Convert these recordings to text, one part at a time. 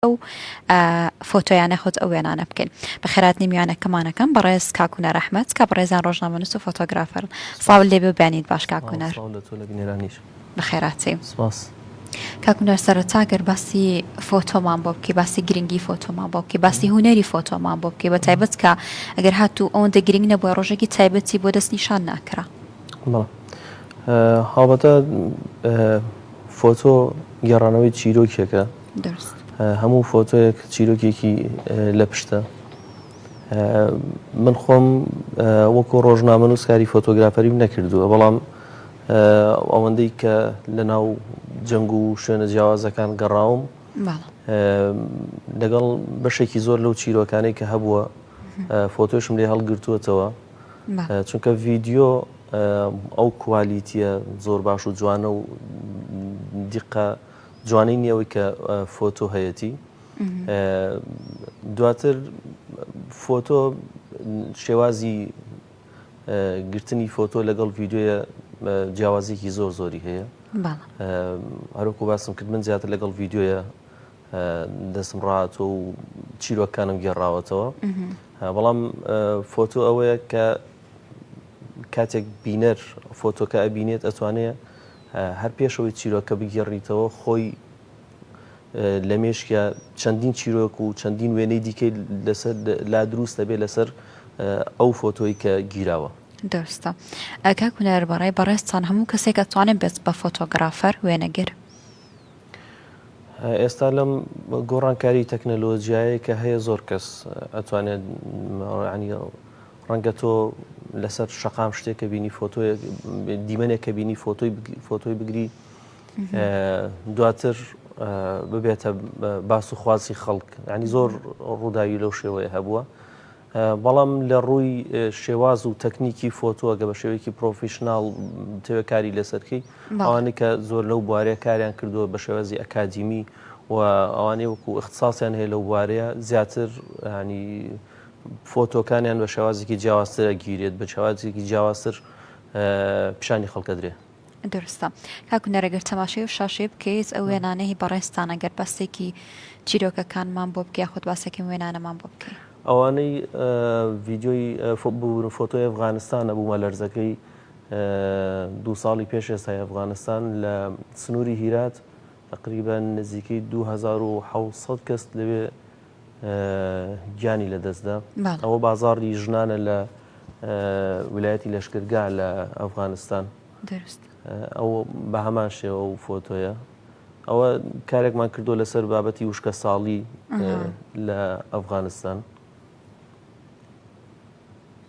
ئەو فۆتۆیانە خۆت ئەو وێنانە بکەین بەخێراتنی میوانە کەمانەکەم بەڕێز کاکوونە ڕەحمەت کا بەڕێزان ڕۆژنامەنووس و فۆتۆگرافەر ساو لێ ببیانیت باش کاکوونەر بەخێراتی سپاس. کاکونەر سەرەتا گەر باسی فۆتۆمان بۆ بکەی باسی گرنگی فۆتۆمان بۆ بکەی باسی هوەری فۆتۆمان بۆ بکەی بە تایبەت کە ئەگەر هاتوو ئەوەندە گرنگ نەبووە ڕۆژێکی تایبەتی بۆ دەست نیشان ناکرا هاوبەتە فۆتۆ گێڕانەوەی چیرۆکێکە دەرست. هەموو فۆتۆیەک چیرۆکێکی لە پشتە. من خۆم وەکو ڕۆژنامەنووس کاری فۆتۆگرافەریم نەکردووە بەڵام ئەوەندەی کە لە ناو جەنگ و شوێنە جیاوازەکان گەڕاوم لەگەڵ بەشێکی زۆر لەو چیرۆکانەی کە هەبووە فۆتۆشم لێ هەڵگرتووەتەوە چونکە ڤیددیو ئەو کوالیتیە زۆر باش و جوانە و دیقە جوانی نیە ئەوەی کە فۆتۆ هەیەتی دواتر فۆتۆ شێوازی گرتنی فۆتۆ لەگەڵ ڤیددیوە جیاوازیکی زۆر زۆری هەیە هەروکو باسم کرد من زیاتر لەگەڵ ڤیددیوە دەستم ڕاتۆ و چیرۆکانم گێڕاوەتەوە بەڵام فۆتۆ ئەوەیە کە کاتێک بینەر فۆتۆکە ئەبینێت ئەتوانێت هەر پێش ئەوەی چیرۆکەکە بگێڕیتەوە خۆی لە مێشکیا چەندین چیرۆک و چەندین وێنەی دیکەی لەسەر لا دروست دەبێت لەسەر ئەو فۆتۆی کە گیراوە. دروستە. کاک هونەر بە ڕای بەڕێزتان هەموو کەسێک ئەتوانێت بێت بە فۆتۆگرافەر، وێنەگر؟ ئێستا لەم گۆڕانکاری تەکنەلۆجیایەی کە هەیە زۆر کەس ئەتوانێت ڕەنگە تۆ لەسەر شەقام شتێکە بینی فۆتۆیەک دیمەنێک کە بینی فۆتۆی فۆتۆی بگری دواتر ببێتە باس و خوازی خەڵک ینی زۆر ڕووداوی لەو شێوەیە هەبووە بەڵام لە ڕووی شێواز و تەکنیکی فۆتۆگە بە شێوەیەکی پرۆفیشنناڵ تێوەکاری لەسەرکەی ئەوانی کە زۆر لەو بوارەیە کاریان کردووە بە شێوازی ئەکادیمی و ئەوانەی وەکو اختصاسیان هەیە لەو بوارەیە زیاتر ینی فۆتۆکانیان بە شێوازێکی جیاوازتر ئەگیرێت، بە شێوازێکی جیاوازتر پیشانی خەڵک ئەدرێ. دروستە کاک هونەر ئەگەر تەماشای ئەو شاشەیە بکەیت ئەو وێنانەی هی بەڕێزتان ئەگەر باسێکی چیرۆکەکانمان بۆ بکەی یاخود باسێکی وێنانەمان بۆ بکەی. ئەوانەی ڤیدیۆی ببورن فۆتۆی ئەفغانستانە بوومەلەرزەکەی دوو ساڵی پێش ئێستای ئەفغانستان لە سنووری هیرات تقریبا نزیکەی دوو هەزار و حەوت سەد کەس لەوێ گیانی لەدەستدا ئەوە بازاڕی ژنانە لە ولایەتی لەشکرگا لە ئەفغانستان ئەو بە هەمان شێوە و فۆتۆیە ئەوە کارێکمان کردو لەسەر بابەتی وشکە ساڵی لە ئەفغانستان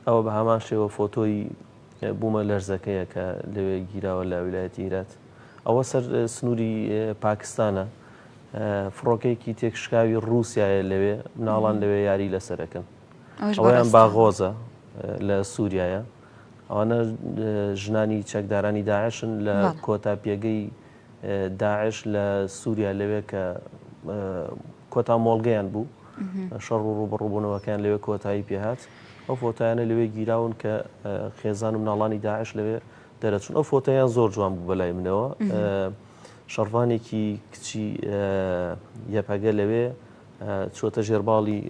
ئەوە بە هەمان شێوە فۆتۆی بومە لەرزەکەیە کە لەوێ گیراوە لە ویلایەتی هیرات ەوە سەر سنوری پاکستانە فڕۆکەیەکی تێکشکاوی ڕوسایە لەوێ مناڵان لەوێ یاری لەسەرەکەن ئەویان باغۆزە لە سووریایە ئەوانە ژنانی چەکدارانی داعشن لە کۆتا پێگەی داعش لە سووریا لەوێ کە کۆتا مۆڵگەیان بوو، شەڕ و ڕووبەڕووبوونەوەکەیان لەوێ کۆتایی پێ هات. ئەو فۆتایانە لەوێ گیراون کە خێزان و مناڵانی داعش لەوێ دەرەچوون. ئەو فۆتایان زۆر جوان بوو بە لای منەوە. شەڕڤانێکی کچی یەپەگە لەوێ چۆتە ژێر باڵی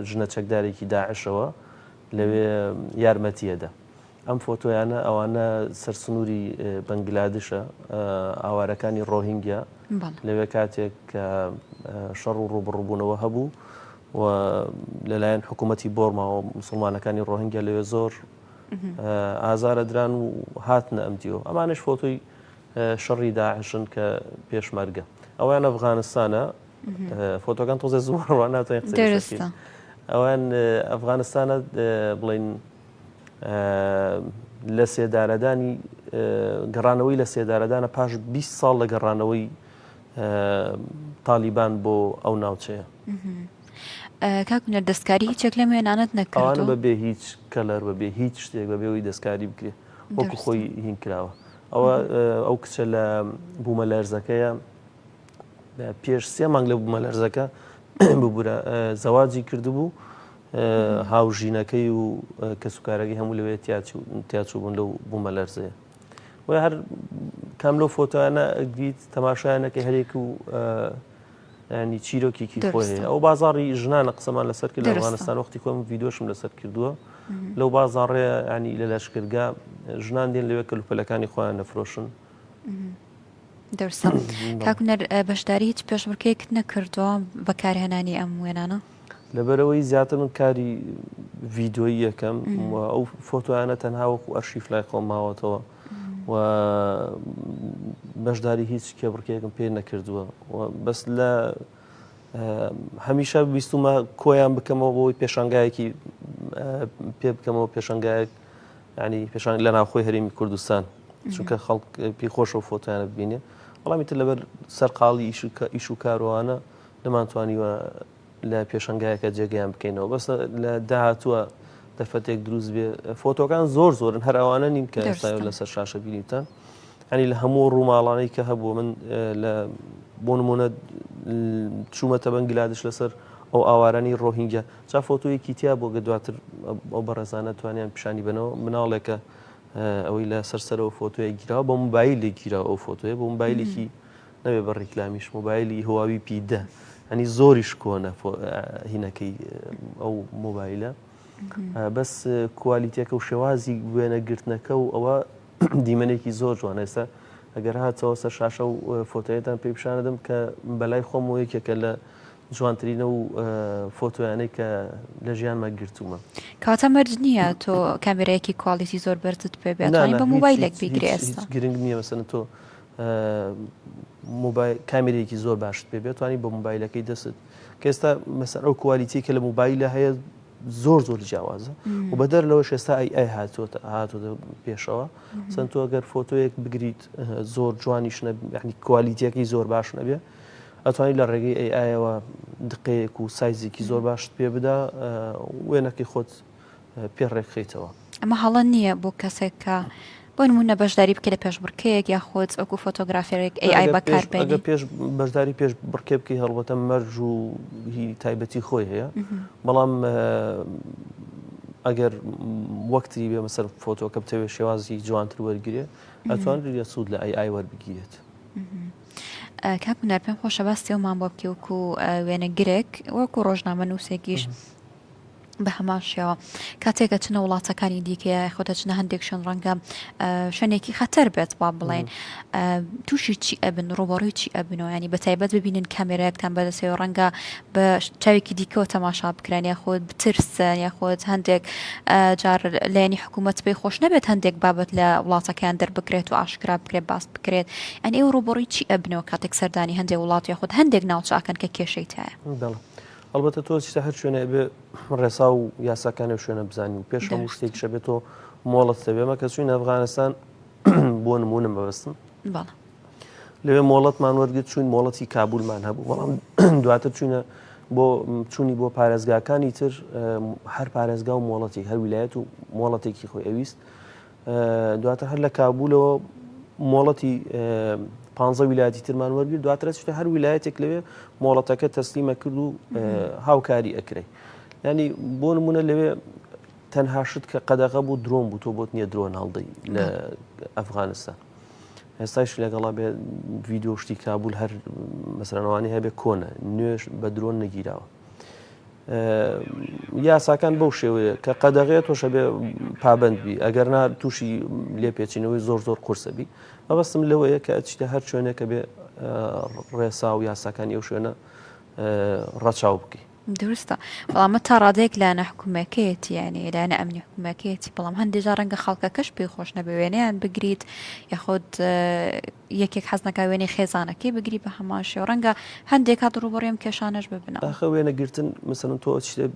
ژنە چەکدارێکی داعشەوە لەوێ یارمەتیەدە. ئەم فۆتۆیانە ئەوانە سەر سنووری بەنگلادشە ئاوارەکانی ڕۆهینگیا لەوێ کاتێک کە شەڕ و ڕوبڕبوونەوە هەبوو و لەلایەن حکوومەتتی بۆرماوە مسلمانەکانی ڕۆهنگیا لەوێ زۆر ئازارە دران و هاتنە ئەم دیۆ ئەمانش فۆتۆی شەڕی داعشن کە پێشمەرگە ئەویان ئەفغانستانە فۆتۆکان تۆزە زووڕوان ناتوانین ئەوان ئەفغانستانە بڵین لەسێدارەدانی گەڕانەوەی لەسێدارەدانە پاش بیست ساڵ لە گەڕانەوەی تالیبان بۆ ئەو ناوچەیە. کاک هونەر دەستکاری هیچێک لەم وێنانەت نەکردووە؟ ئەوانە بەبێ هیچ کەلەر بەبێ هیچ شتێک بەبێ ئەوەی دەستکاری بکرێ وەکو دروستە. خۆی هین کراوە ئەوە ئەو کچە لە بوومەلەرزەکەیە پێش سێ مانگ لە بوومەلەرزەکە ببورە زەواجی کردبوو هاوژینەکەی و کەسوکارەکەی هەموو لەوێ تیاچووبوون لەو بوومەلەرزەیە بۆیە هەر کام لەو فۆتۆیانە ئەگریت تەماشایانەکە هەرێک و ینی چیرۆکیکی خۆی ئەو بازاری ژنانە قسەمان لەسەر کرد لە ئەفغانستان وەختی خۆم یددیوشم لەسەر کردووە لەو بازاڕێ ینی لە لەشکرگا ژنان دێن لەوێ کەلوپەلەکانی خۆیان نەفرۆشن دەرسە کاکونەر بەشداری هیچ پێشبڕکەیەکت نەکردووە بەکارهێنانی ئەم وێنانە لەبەرئەوەی زیاتر من کاری ڤیدۆیی یەکەم و ئەو فۆتۆیانە تەنها وەکو ئەرشیف لای خۆم ماوەتەوە و بەشداری هیچ کێبڕکێکم پێ نەکردووە بەس لە هەمیشە بیستمە کۆیان بکەمەوە بۆی پێشانگایەکی پێ بکەمەوە پێشنگایەک ینی پێشان لە ناوخۆی هەرمی کوردستان چونکە خەڵک پێی خۆشە فۆتیانە ببینێ وەڵامی تر لەبەر سەرقاڵی ئیش و کاروانە نەمانتوانیوە لە پێشەنگایەکە جێگەیان بکەینەوە بەس لە داهاتووە دەرفەتێک دروست بێ فۆتۆکان زۆر زۆرن هەر ئەوانە نین کە ئێستا لەسەر شاشە بینیتان هەنی لە هەموو ڕووماڵانەی کە هەبوو من لە بۆ نمونە چوومەتە بەنگلادش لەسەر ئەو ئاوارانی ڕۆهینگە چا فۆتۆیەکی تیا بۆ گە دواتر ئەو بەڕێزانە توانیان پیشانی بنەوە مناڵێکە ئەوەی لە سەرسەرەوە فۆتۆیە گیرا بۆ موبایل لێ گیرا ئەو فۆتۆیە بۆ موبایلێکی نەبێ بە ڕیکلامیش مۆبایلی هواوی پی دە هەنی زۆریش کۆنە هینەکەی ئەو مۆبایلە بەس کوالیتەکە و شێوازی وێنە گرتنەکە و ئەوە دیمەنێکی زۆر جوان ئێستا ئەگەر هاتەوە سەر شاشە و فۆتۆیەتان پێی پیششانەدەم کە بەلای خۆم و یەکێکە لە جوانترینە و فۆتۆیانەی کە لە ژیانمە گرتوومە کاتە مەرج نییە تۆ کامێرەیەکی کوالیتی زۆر بەرزت پێ بێت بە موبایلێک بگرێت گرنگ نییە بەسەن تۆ موبایل کامیرەیەکی زۆر باشت پێ بێت توانی بە موبایلەکەی دەست کە ئێستا مەسەر ئەو کوالیتی کە لە موبایلە هەیە زۆر زۆر جیاوازە و بەدەر لەوە شێستا ئەی ئەی هاتووە هاتووە پێشەوە چەند تۆ گەر فۆتۆیەک بگریت زۆر جوانیش نەبیانی کوالیتیەکەی زۆر باش نەبێ ئەتوانی لە ڕێگەی ئەی ئایەوە دقەیەک و سایزێکی زۆر باشت پێ بدا وێنەکەی خۆت پێ ڕێکخەیتەوە. ئەمە هەڵە نییە بۆ کەسێک کە بۆ نموونە بەشداری بکەی لە پێشبڕکێیەک یاخود وەکو فۆتۆگرافێرێک ئەی ئای بەکار بێنی. ئەگەر پێش بەشداری پێش بڕکێ بکەی هەڵبەتە مەرج و هی تایبەتی خۆی هەیە بەڵام ئەگەر وەکتری بێ بەسەر فۆتۆکە بتەوێت شێوازی جوانتر وەرگێ ئەتوان لە سوود لە ئەی ئای وەربگیرێت. کاک هونەر پێم خۆشە باستیەوەمان بۆ بکەوک و وێنەگرێک وەکو ڕۆژنامە نووسێکیش بە هەمان شێوە کاتێک ئەچنە وڵاتەکانی دیکە یا یاخود ئەچنە هەندێک شوێن ڕەنگە شوێنێکی خەتەر بێت با بڵێن تووشی چی ئەبن ڕوبەڕووی چی ئەبنەوە ینی بە تایبەت ببینن کامێراەکتان بەدەسەوە ڕەنگە بە چاوێکی دیکەەوە تەماشا بکران یاخود بترسن یاخود هەندێک جار لایەنی حکوومەت پێی خۆش نەبێت هەندێک بابەت لە وڵاتەکەیان دەربکرێت و ئاشکرا بکرێت باس بکرێت ئەن ئێوە ڕوبەڕووی چی ئەبنەوە کاتێک سەردانی هەندێک وڵات یاخود هەندێک ناوچاکەن کە کێشەی تایە. ئەڵبەتە تۆ ستا هەر شوێنە بێ ڕێسا و یاساکانی و شوێنە بزانین و پێش هەموو شتێک شە بێت تۆ مۆڵەت دەبێمە کە چوین ئەفغانستان بۆ نمونم بەبستم لەوێ مۆڵەتمان وەرگرت چوین مۆڵەتی کابولمان هەبوو بەڵام دواتر چوینە بۆ چوونی بۆ پارێزگاکانی تر هەر پارێزگا و مۆڵەتی هەر ویلایەت و مۆڵەتێکی خۆی ئەویست دواتر هەر لە کابولەوە مۆڵەتی پانزە ویلایەتی ترمان وەرگر دواترە چتە هەر ویلایەتێک لەوێ مۆڵەتەکە تەسلیمە کرد و هاوکاری ئەکرێ ینی بۆ نمونە لەوێ تەنها شت کە قەدەغە بوو درۆن بوو تۆ بۆت نییە درۆن هەڵدەی لە ئەفغانستان هێستایش لەگەڵا بێ ویددیو شتی کابول هەر مەسرانەوانی هەبێ کۆنە نوێش بە درۆن نەگیراوە یاساکان بەو شێوەیە کە قەدەغێت تۆشە بێ پابندبی ئەگەرنا تووشی لێپێچینەوەی زۆر زۆر قورسەبی مەبەستم لەوەیە کە ئەچیتە هەر شوێنێکە بێ ڕێسا و یاساکان ئەو شوێنە ڕەچاو بکەی دروستە بەڵامە تا ڕادێک لایەنە حکوومەکەیەتی یعنی لایەنە ئەمنی حکوومەکەیەتی بەڵام هەندێجا ڕەنگە خەڵکەکەش پێی خۆش نەبێ وێنەیان بگریت یاخود یەکێک حەزنەکە وێنەی خێزانەکەی بگری بە هەمان شێو ڕەنگە هەندێک کات ڕووبەڕووی کێشانەش ببنەوە. ئاخر وێنە گرتن مەسەلەن تۆ ئەچیتە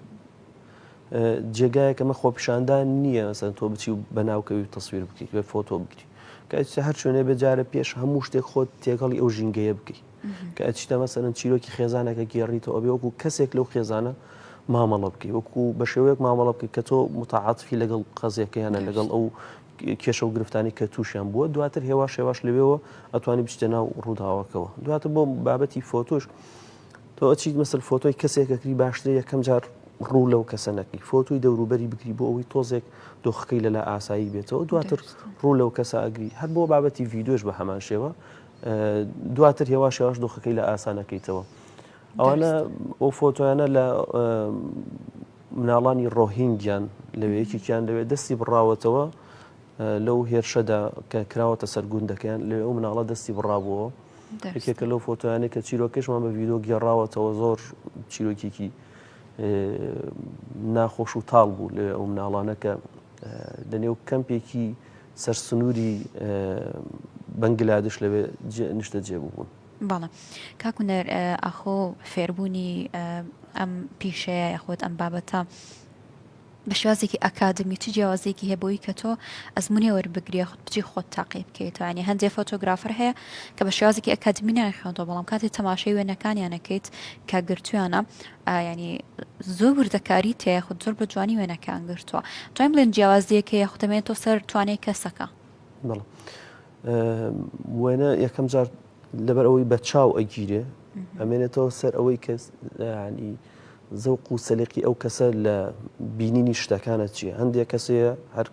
جێگایەک ئەمە خۆپیشاندان نییە مەسەلەن تۆ بچی و بەناوکەوی و تەسویر بکەیت بێ فۆتۆ بگری کە ئەچیتە هەر شوێنێ بێ جارە پێش هەموو شتێک خۆت تێکەڵی ئەو ژینگەیە بکەیت کە ئەچیتە مەسەلەن چیرۆکی خێزانەکە گێڕیتەوە بێ وەکو کەسێک لەو خێزانە مامەڵە بکەیت وەکو بە شێوەیەک مامەڵە بکەیت کە تۆ متعاتفی لەگەڵ قەزیەکەیانە لەگەڵ ئەو کێشە و گرفتانەی کە تووشیان بووە دواتر هێواش هێواش لەوێەوە ئەتوانی بچتە ناو ڕووداوەکەەوە دواتر بۆ بابەتی فۆتۆش تۆ ئەچیت مەسل فۆتۆی کەسێکەکری باشترە یەکەم جار ڕوو لەو کەسە نەکەی فۆتوی دەوروبەری بگری بۆ ئەوەی تۆزێک دۆخەکەی لەلا ئاسایی بێتەوە دواتر ڕوو لەو کەسە ئەگری هەر بۆ بابەتی ڤیددیوش بە هەمان شێوە دواتر هێواش هێواش دۆخەکەی لە ئاسانەکەیتەوە ئەوانە ئەو فۆتۆیانە لە مناڵانی ڕۆهینگیان لەوێ یەکێکیان لەوێ دەستی بڕاوەتەوە لەو هێرشەدا کە کراوەتە سەر گوندەکەیان لەوێ ئەو مناڵە دەستی بڕابووەوە یەکێکە لەو فۆتۆیانە کە چیرۆکەشمان بە ڤیدۆ گێڕاوەتەوە زۆر چیرۆکێکی ناخۆش و تاڵ بوو لەوێ ئەو مناڵانە کە لە نێو کەمپێکی سەر سنووری بەنگلادش لەوێ نیشتە جێبوو بوون. بەڵێ کاک هونەر ئاخۆ فێربوونی ئەم پیشەیە یاخود ئەم بابەتە بە شێوازێکی ئەکادمی چ جیاوازێکی هەیە بۆی کە تۆ ئەزمونی وەربگرێ خود بچی خۆت تاقی بکەیتوانی هەندێک فۆتۆگرافر هەیە کە بە شێوازێکی ئەکادمی ناخێنەوە بەڵام کاتی تەماشای وێنەکانیانەکەیت کە گرتویانە ینی زۆر وردەکاری تەیە خود زۆر بە جوانی وێنەکان گرتووە توانیم بڵێن جیاوازیەکە یاخدەمێن تۆ سەر توانێت کەسەکە. وێنە یەکەم جار لەبەر ئەوەی بە چاو ئەگیرێ ئەمێنێتەوە سەر ئەوەی کە ینی زەوق و سەلقی ئەو کەسە لە بینینی شتەکانە چیە هەندێک کەسەیە هەر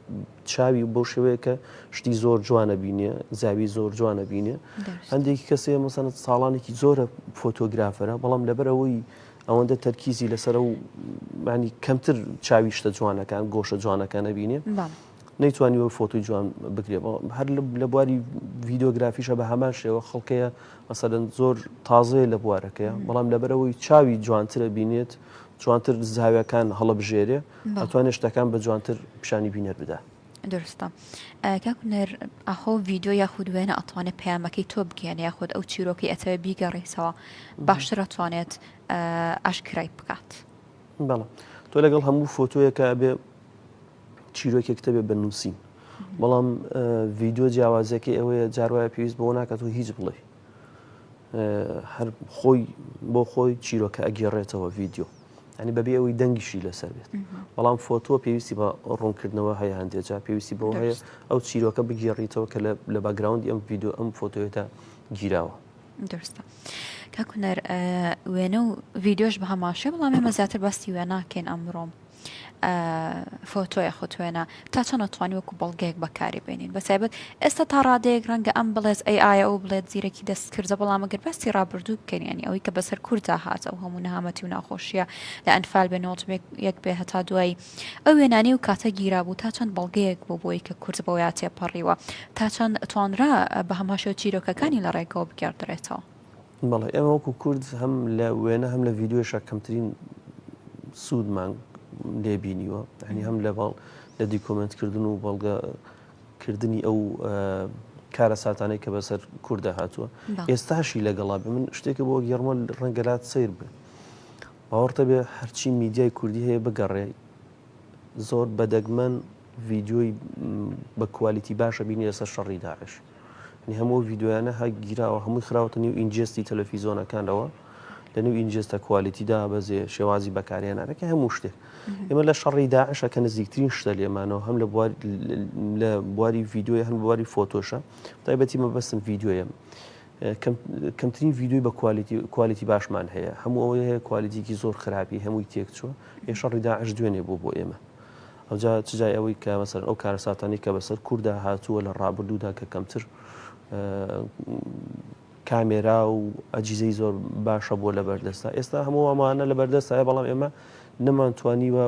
چاوی بۆ شێوەیە کە شتی زۆر جوانە بینێ زاوی زۆر جوانە بینێ هەندێکی کەسەیە مەسەنت ساڵانێکی زۆرە فۆتۆگرافەرە بەڵام لەبەر ئەوەی ئەوەندە تەرکیزی لەسەر و ینی کەمتر چاویشتە جوانەکان گۆشە جوانەکانە بینێ نەیتوانیوە فۆتۆی جوان بگرێ هەر لە بواری ڤیددیوگرافیشە بە هەمان شێوە خەڵکەیە مەسەدەن زۆر تازەیە لە بوارەکەیە بەڵام لەبەرەوەی چاوی جوانترە بینێت جوانتر زاویەکان هەڵبژێرێ ئەتوانێت شتەکان بە جوانتر پیشانی بینەر بدا درستە کاکوونەر ئاخۆ ڤیددیو یاخود وێنە ئەتوانێت پەیامەکەی تۆ بگەێنە یاخود ئەو چیرۆکی ئەتەوێ بیگەڕیتەوە باشتر ئەتوانێت ئاشکرای بکات بەڵام تۆ لەگەڵ هەموو فۆتۆیەکە بێ چیرۆکێکت هەبێت بە نووسین بەڵام ڤیددیو جیاوازەکەی ئەوەیە جاروایە پێویست بۆ ناکات و هیچ بڵێ هەر خۆی بۆ خۆی چیرۆکە ئەگەڕێتەوە ڤیددیو ئەنی بەبێ ئەوەی دەنگیشی لەسەر بێت بەڵام فۆتۆ پێویستی بە ڕوونکردنەوە هەیە هەندێجا پێویستی بۆ هەیە ئەو چیرۆکە بگێڕیتەوە کە لە باگراوندی ئەم ڤیددیو ئەم فۆتۆێتە گیراوە. درستە کاکوونەر وێنە و ڤیددیۆش بە هەماشێ بڵام ئێمە زیاتر باسی وێناکەین ئەمڕۆم فۆتۆیە خۆتوێنە تا چۆن ئەتوانی وەکو بەڵگەیەک بەکاری بێنین بەتایبەت ئێستا تا ڕادەیەک ڕەنگە ئەم بڵێت ئەی ئایا ئەو بڵێت زیرەکی دەست کردە بەڵام گەر باسی ڕابردوو بکەین ینی ئەوەی کە بەسەر کوردا هاتە و هەموو نەهامەتی و ناخۆشیە لە ئەنفال بێ نۆڵ یەک بێ هەتا دوایی ئەو وێنانی و کاتە گیرا بوو تا چەند بەڵگەیەک بۆ بۆی کە کورد بۆ یا تێپەڕیوە تا چەند توانرا بە هەماشە چیرۆکەکانی لە ڕێگەوە بگەڕدرێتەوە. بەڵێ ئێمە وەکو کورد هەم لە وێنە هەم لە ڤیددیوشە کەمترین سوودمان لێبینیوە هەنی هەم لە باڵ لە دیکۆمنتکردن و بەڵگەکردنی ئەو کارە ساتانەی کە بەسەر کووردە هاتووە ئێستاشی لەگەڵا بێ من شتێکە بۆ گەڕمە ڕەنگەلات سیر بێ باوەڕتە بێ هەرچی میدیای کوردی هەیە بگەڕێ زۆر بە دەگمەن ڤیدیۆی بە کوالیتی باش ئەبینی لەسەر شەڕی داعش یعنی هەموو ئەو ڤیدیۆیانە هەر گیراوە هەمووی خراوەتە نیو ئینجێستی تەلەفیزۆنەکانەوە لە نیو ئینجێستە کوالیتی دابەزێ شێوازی بەکارهێنانەکە هەموو شتێک ئێمە لە شەڕی داعشە کە نزیکترین شتە لێمانەوە هەم لە بوار- لە بواری ڤیدیۆی هەم بواری فۆتۆشە تایبەتی مەبەستم ڤیدیۆیە کەمترین ڤیدیۆی بە کوالیتی کوالیتی باشمان هەیە هەموو ئەوەی هەیە کوالیتیکی زۆر خراپی هەمووی تێک چووە یە شەڕی داعش دوێنێ بوو بۆ ئێمە ئەوجا چجای ئەوەی کە مەسەر ئەو کارەساتانی کە بەسەر کووردا هاتووە لە ڕابردوودا کە کەمتر کامێرا و ئەجیزەی زۆر باشە بووە لە بەردەستا ئێستا هەموو ئەمانە لە بەردەستایە بەڵام ئێمە نەمانتوانیوە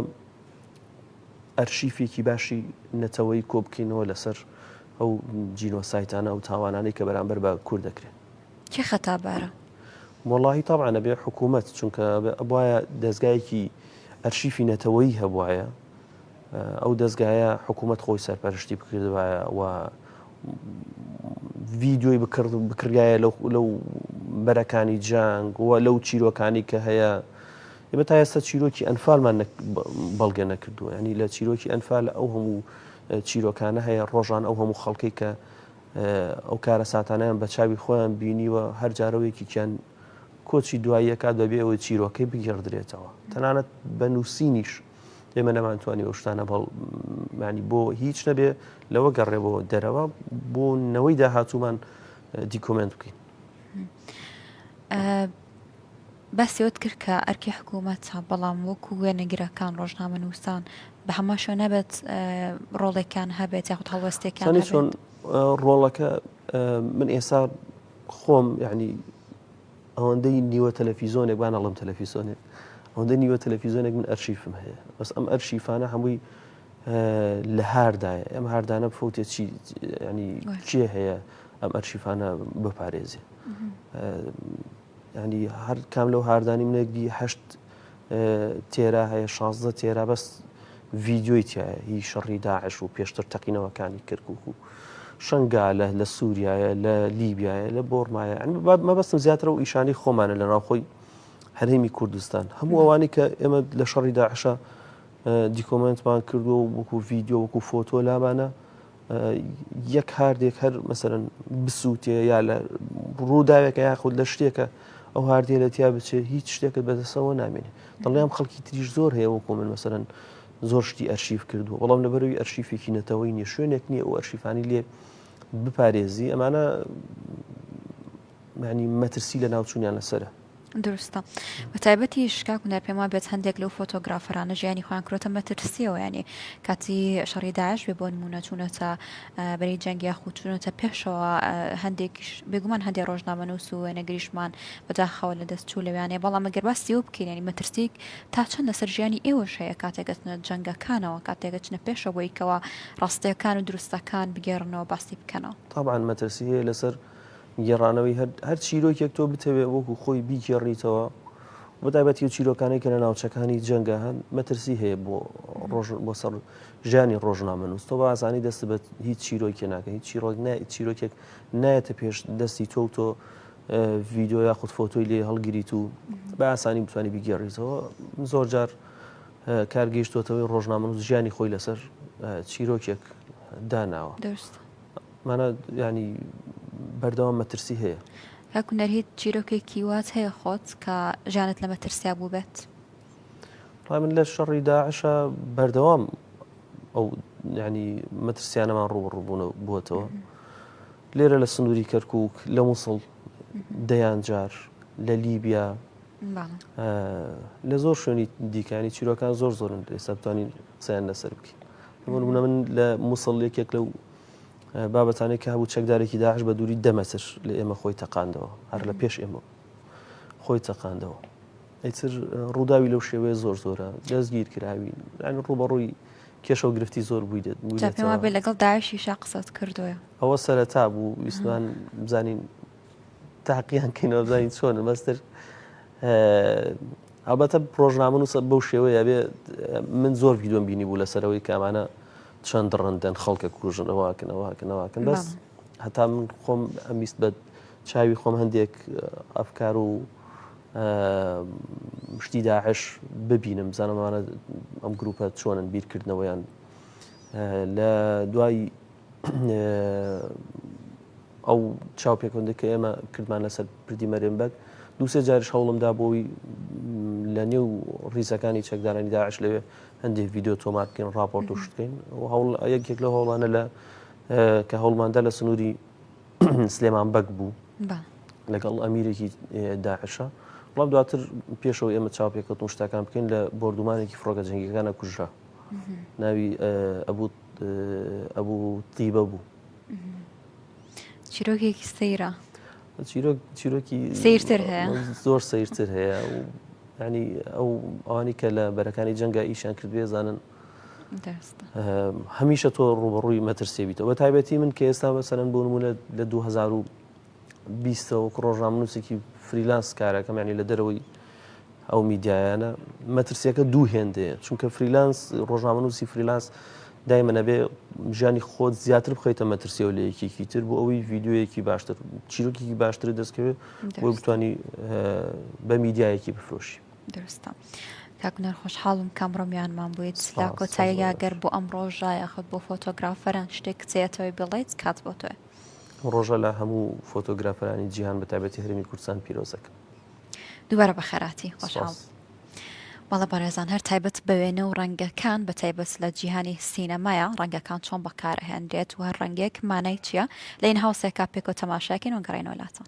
ئەرشیفێکی باشی نەتەوەیی کۆبکەینەوە لەسەر ئەو جینۆسایتانە ئەو تاوانانەی کە بەرامبەر بە کورد دەکرێن. کێ خەتابارە؟ وەڵاهی تەبعەن ئەبێ حکوومەت چونکە ئەبوایە دەزگایەکی ئەرشیفی نەتەوەیی هەبوایە ئەو دەزگایە حکوومەت خۆی سەرپەرشتی بکردوایە و ڤیددیۆی بکرد بکرایە لەو بەرەکانی جانگ و لەو چیرۆکانی کە هەیە ئێمە تا ئێستا چیرۆکی ئەنفالمان نە بە بەڵگە نەکردووە یانی لە چیرۆکی ئەنفال ئەو هەموو چیرۆکانە هەیە ڕۆژان ئەو هەموو خەڵکی کە ئەو کارە ساتانیان بە چاوی خۆیان بینیوە هەر جارەوەیەکیان کۆچی دواییەکە دەبێ ئەوەی چیرۆکەی بگەڕدرێتەوە تەنانەت بە نووسینیش ئێمە نەمانتوانی ئەو شتانە بەڵ مانی بۆ هیچ نەبێ لەوە گەڕێەوە دەرەوە بۆ نەوەی داهاتوومان دیکۆمنت بکەین. باسی ئەوەت کرد کە ئەرکی حکوومەتە، بەڵام وەکوو وێنەگرەکان، ڕۆژنامەنووسان بە هەمان شێوە نابێت ڕۆڵێکیان هەبێت یاخود هەڵوێستێکیان سانی چۆن هەبێت؟ ڕۆڵەکە ئە، من ئێستا خۆم یعنی ئەوەندەی نیوە تەلەفیزۆنێک بان ئەڵم تەلەفیزۆنێک ئەوەندە نیوە تەلەفیزۆنێک من ئەرشیفم هەیە بەس ئەم ئەرشیفانە هەمووی ئە، لە هاردایە ئەم هاردانە بفوتێ چی یعنی وایە. کێ هەیە ئەم ئەرشیفانە بپارێزێ؟ ئە، یانی هەر کام لەو هاردانی منە گی هەشت تێرا هەیە شازدە تێرا بەس ڤیددیۆی تایە هی شەڕی داعش و پێشتر تەقینەوەکانی کردکک و شنگالە لە سووریایە لە لیبیایە لە بۆرمایە مەبەستم زیاترە و ئیشانی خۆمانە لە ناوخۆی هەرێمی کوردستان هەموو ئەوانی کە ئێمە لە شەڕی داعشە دیکۆمنتمان کردو وەکو ڤیددیو وەکو فۆتۆ لامانە یەک هاردێک هەر مەسەرەن بسووتێ یا لە ڕووداوێکە یاخود لە شتێکە ئەو هاردێ لە تیا بچێت هیچ شتێکت بەدەسەوە نامێنێ دڵیان خەڵکی تریش زۆر هەیە وەکو من مەسەرەن زۆر شتی ئەرشیف کردووە بەڵام لەبەروی ئەرشیفێکی نەتەوەی نیە شوێنێک نییە ئەو ئەرشیفانی لێ بپارێزی ئەمانە معنی مەترسی لە ناوچونیان لەسرە دروستە بەتایبەتیش کاک هونەر پێم وابێت هەندێک لەو فۆتۆگرافەرانە ژیانی خۆیان کرۆتە مەترسیەوە یانێ کاتی شەڕی داعش بێ بۆ نمونە چوونەتە بەری جەنگی یاخو چوونەتە پێشەوە هەندێکیش بێگومان هەندێک ڕۆژنامەنووس و وێنەگریشمان بەداخەوە لە دەست چوو لەویانێ بەڵام ئەگەر باسی ئەو بکەین ینی مەترسیک تا چەند لەسەر ژیانی ئێوەش هەیە کاتێکەچنە جەنگەکانەوە کاتێکەچنە پێشەوە بۆیکەوە ڕاستیەکان و دروستەکان بگێڕنەوە باسی بکەنەوە طبعا مەترسی هەیە لەسەر گێڕانەوەی هەر هەر چیرۆکێک تۆ بتەوێ وەکو خۆی بیگێڕیتەوە بە تایبەتی و چیرۆکانەی کە لە ناوچەکانی جەنگە هەن مەترسی هەیە بۆ ڕۆژ بۆ سەر ژیانی ڕۆژنامەنووس تۆ بازانی دەست بە هیچ چیرۆکێ ناکە هیچ چیرۆک چیرۆکێک نایەتە پێش دەستی تۆ و تۆ ڤیددیو یا خود فۆتۆی لێ هەڵگریت و بە ئاسانی بتوانانی بگێڕیتەوە زۆر جار کارگەیشتوتەوەی ڕۆژنامەنووس ژیانی خۆی لەسەر چیرۆکێک داناوە مانا یانی بەردەوام مەترسی هەیە. کاک هونەر هیچ چیرۆکێکی وات هەیە خۆت کە ژیانت لە مەترسیا بووبێت؟ ڕای من لە شەڕی داعشە بەردەوام ئەو ینی مەترسیانەمان ڕوبڕبوون بووەتەوە لێرە لە سنووری کەرکک لە مووسڵ دەیان جار لە لیبیا لە زۆر شوێنی دیکانی چیرۆکان زۆر زۆرن لێسەبتانی قسەیان لەسەر بکە من لە مووسڵ یەکێک لەو بابەتانەی کە هەبوو چەکدارێکی داعش بە دووری دە مەتر لە ئێمە خۆی تەقاندەوە هەر لە پێش ئێمە خۆی تەقاندەوە ئیتر ڕووداوی لەو شێوەیە زۆر زۆرە دەستگیر کراوی ئەنی ڕوبەڕووی کێشە و گرفتی زۆر بووی دێت پێما بێ لەگەڵ داعشی شا قسەت کردوە ئەوە سەرەتا بوو ویسمان بزانین تاقییان کەینەوەزانین چۆن مەستر ئەبەتە پرۆژنامە و سە بەو شێوەیە بێ من زۆر ویدۆم بینی بوو لەسەرەوەی کامانە چەند دڕەندەن خەڵکە کوژن ئەوواکن ئەوواکن ئەوواکن بەس هەتا من خۆم ئەمیست بە چاوی خۆم هەندێک ئەفکار و شتی داعش ببینم زانمانە ئەم گروپە چۆنن بیرکردنەوەیان لە دوای ئەو چاو پێکەوەندە کە ئێمە کردمان لەسەر پردی مەرێن بەگ دوسێ جارش هەوڵمدا بۆی لە نێو ڕیزەکانی چەکدارانی داعش لەوێ هەندێک ڤیددیو تۆمار بکەین راپۆرت و شتکەین یەکێک لە هەوڵانە لە کە هەوڵماندا لە سنووری سلێمان بەگ بوو لەگەڵ ئەمیرێکی داعشە وڵام دواتر پێشەوە ئێمە چاپێکەوت و شتەکان بکەین لە بردومانێکی فڕۆگە جنگەکانە کوژرا ناوی ئەبوو ئەبوو تیبە بوو چیرۆکێکی سەیرە چیرۆکی سیرتر هەیە زۆر سیرتر هەیە ینی ئەو ئەوانی کە لە بەرەکانی جەنگە ئیشان کرد بێزانن هەمیشە تۆ ڕوبڕووی مەترسێبییتەوە بە تایبەتی من کە ئێستا بەسەرن بۆ نمونە لە 2020ەوە ڕۆژنامنووسێکی فریلانس کارەکەم ینی لە دەرەوەی ئەو میدیایانە مەترسیەکە دوو هێندەیە چونکە فریلانس ڕۆژنامەنووسی فریلانس دایمە نەبێ ژیانی خۆت زیاتر بخیتە مەترسیەوە لە یەکێکی تر بۆ ئەوەی ڤیددیوەیەکی باشتر چیرۆکیی باشتر دەستکەوێت بۆ بتانی بە میدیایەکی بفرۆشی درستە. کاکنەر خۆشحاڵم کامڕۆمیانمان بوویت سلا کۆتاییە گەر بۆ ئەم ڕۆژە یاخود بۆ فۆتۆگرافەران شتێک کچێتەوەی بڵیت کات بۆ تۆێ ڕۆژە لە هەموو فۆتۆگرافەرانی جیهان بەتابەتی هەرمی کوردستان پیرۆزەکە. دووبارە بە خێراتی خۆشحاڵ سپاس. بەڵە بەڕێزان هەر تایبەت بە وێنە و ڕەنگەکان بە تایبەت لە جیهانی سینەمایە ڕەنگەکان چۆن بەکارەهێنرێت و هەر ڕەنگێک مانای چییە لە ئین هاوسێکا پێکەوە تەماشاکەین و گەڕێنەوە لاتان.